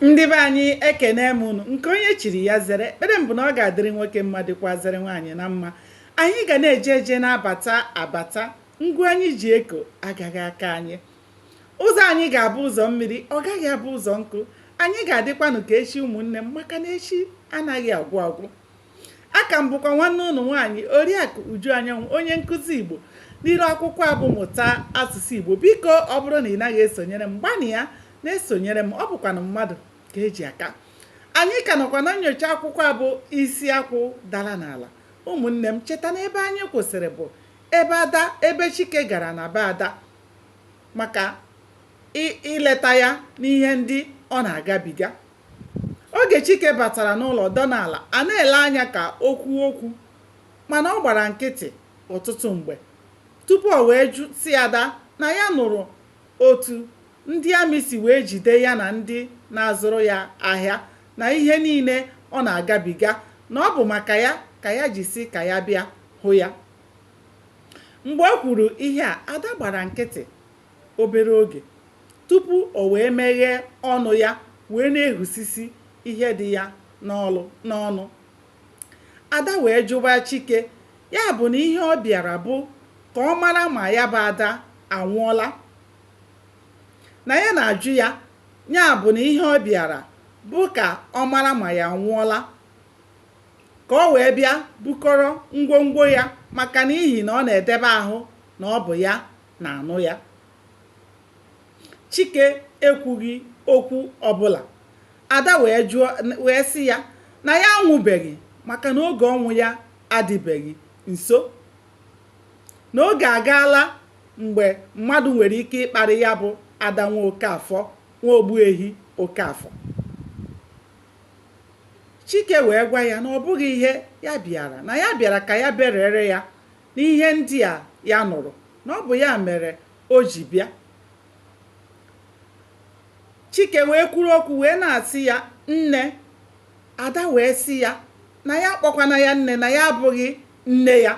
ndị be anyị ekene m unu nke onye chiri ya zere ekpere m bụ na ọ ga-adịrị nwoke mma dịkwazịrị nwaanyị na mma anyị ga na-eje eje na-abata abata ngwa anyị ji eko agaghị aka anyị ụzọ anyị ga-abụ ụzọ mmiri ọ gaghị abụ ụzọ nkụ anyị ga-adịkwanụ ka echi ụmụnne m maka na echi anaghị agwụ agwụ aka m bụkwa nwanne unu nwaanyị oriakụ uju anyanwụ onye nkụzi igbo n'iru akwụkwọ a bụ mụta asụsụ igbo biko ọ bụrụ na ị naghị esonyere m gbanịa na-esonyere m ọ bụkwanụ mmadụ ka e ji aka anyị ka nọkwa na nyocha akwụkwọ a bụ isi akwụ dara n'ala ụmụnne m cheta na ebe anyị kwụsịrị bụ ebe ada ebe chike gara na be ada maka ileta ya n'ihe ndị ọ na-agabiga Oge Chike batara n'ụlọ dọna ala, a na-ele anya ka o kwuo okwu mana ọ gbara nkịtị ọtụtụ mgbe tupu o wee jụ sị Ada na ya nụrụ otu ndị amị si wee jide ya na ndị na-azụrụ ya ahịa na ihe niile ọ na-agabiga na ọ bụ maka ya ka ya ji sị ka ya bịa hụ ya. Mgbe o kwuru ihe a, Ada gbara nkịtị. obere oge tupu o wee meghee ọnụ ya wee na-ehusisi ihe dị ya n'ọnụ. Ada wee jụba Chike ya bụ na ihe ọ bịara bụ ka ọ mara ma ya bụ Ada anwụọla. Na ya na-ajụ ya ya bụ na ihe ọ bịara bụ ka ọ mara ma ya anwụọla ka ọ wee bịa bukọrọ ngwongwo ya maka n'ihi na ọ na-edebe ahụ na ọ bụ ya na-anụ ya chike ekwughị okwu ọbụla ada wee sị ya na ya anwụbeghị maka na oge ọnwụ ya adịbeghị nso na oge agaala mgbe mmadụ nwere ike ịkparị ya bụ ada nwa okafọ nwa ogbuehi okafọ chike wee gwa ya na ọ bụghị ihe ya bịara na ya bịara ka ya berere ya n'ihe ndị a ya nụrụ na ọ bụ ya mere o ji bịa chike wee kwuru okwu wee na-asị ya nne ada wee sị ya na ya akpọkwana ya nne na ya abụghị nne ya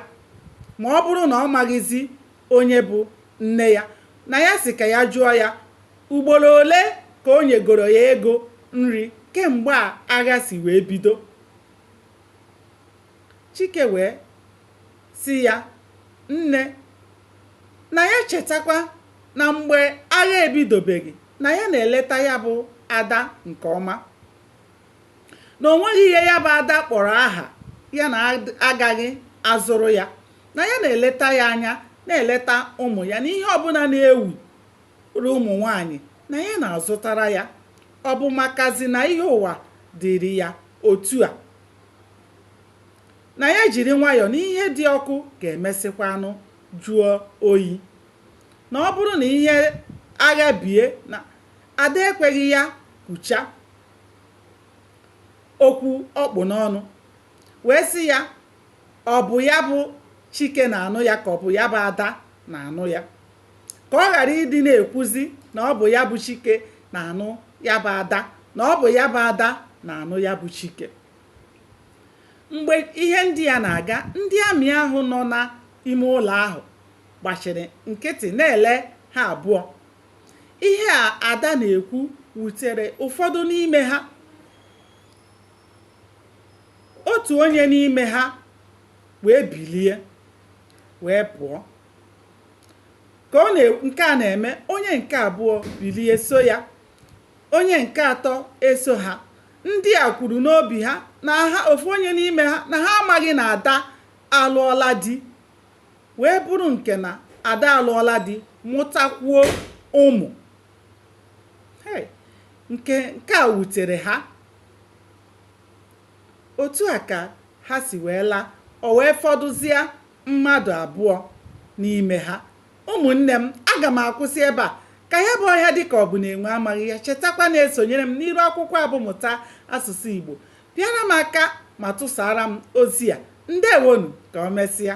ma ọ bụrụ na ọ maghịzi onye bụ nne ya na ya sị ka ya jụọ ya ugboro ole ka o nyegoro ya ego nri kemgbe a agha si wee bido Chike wee sị ya, Nne, na ya chetakwa na mgbe agha ebidobeghị na ya na-eleta ya bụ Ada nke ọma, na o nweghị ihe ya bụ Ada kpọrọ aha ya na agaghị azụrụ ya, na ya na-eleta ya anya, na-eleta ụmụ ya, na ihe ọbụla na-ewuru ụmụ nwaanyị na ya na-azụtara ya, ọ bụ makazi na ihe ụwa dịrị ya otu a. na ya jiri nwayọọ na ihe dị ọkụ ga-emesịkwanụ jụọ oyi na ọ bụrụ na ihe agha bie na Ada ekweghị ya kwucha okwu ọ kpụ n'ọnụ wee sị ya ọ bụ ya bụ Chike na-anụ ya ka ọ bụ ya bụ Ada na-anụ ya ka ọ ghara ịdị na-ekwuzi na ọ bụ ya bụ Chike na-anụ ya bụ Ada na ọ bụ ya bụ Ada na-anụ ya bụ Chike mgbe ihe ndị a na-aga ndị amị ahụ nọ n'ime ụlọ ahụ gbachiri nkịtị na-ele ha abụọ ihe a Ada na-ekwu wutere ụfọdụ n'ime ha otu onye n'ime ha wee bilie wee pụọ ka ọ na nke a na-eme onye nke abụọ bilie so ya onye nke atọ eso ha ndị a kwuru n'obi ha na ha ofu onye n'ime ha na ha amaghị na Ada alụọla di wee bụrụ nke na Ada alụọla di mụtakwuo ụmụ hey, nke nke a wutere ha otu a ka ha si wee laa o wee fọdụzie mmadụ abụọ n'ime ha. Ụmụnne m, aga m akwụsị ebe a. Ka ya bụ ọhịa dị ka ọ bụ na enwe amaghị ya. Chetakwa na-esonyere m n'iru akwụkwọ a bụ Mụta Asụsụ Igbo. Pịara m aka ma tụsaara m ozi a. Ndewonu, ka o mesịa.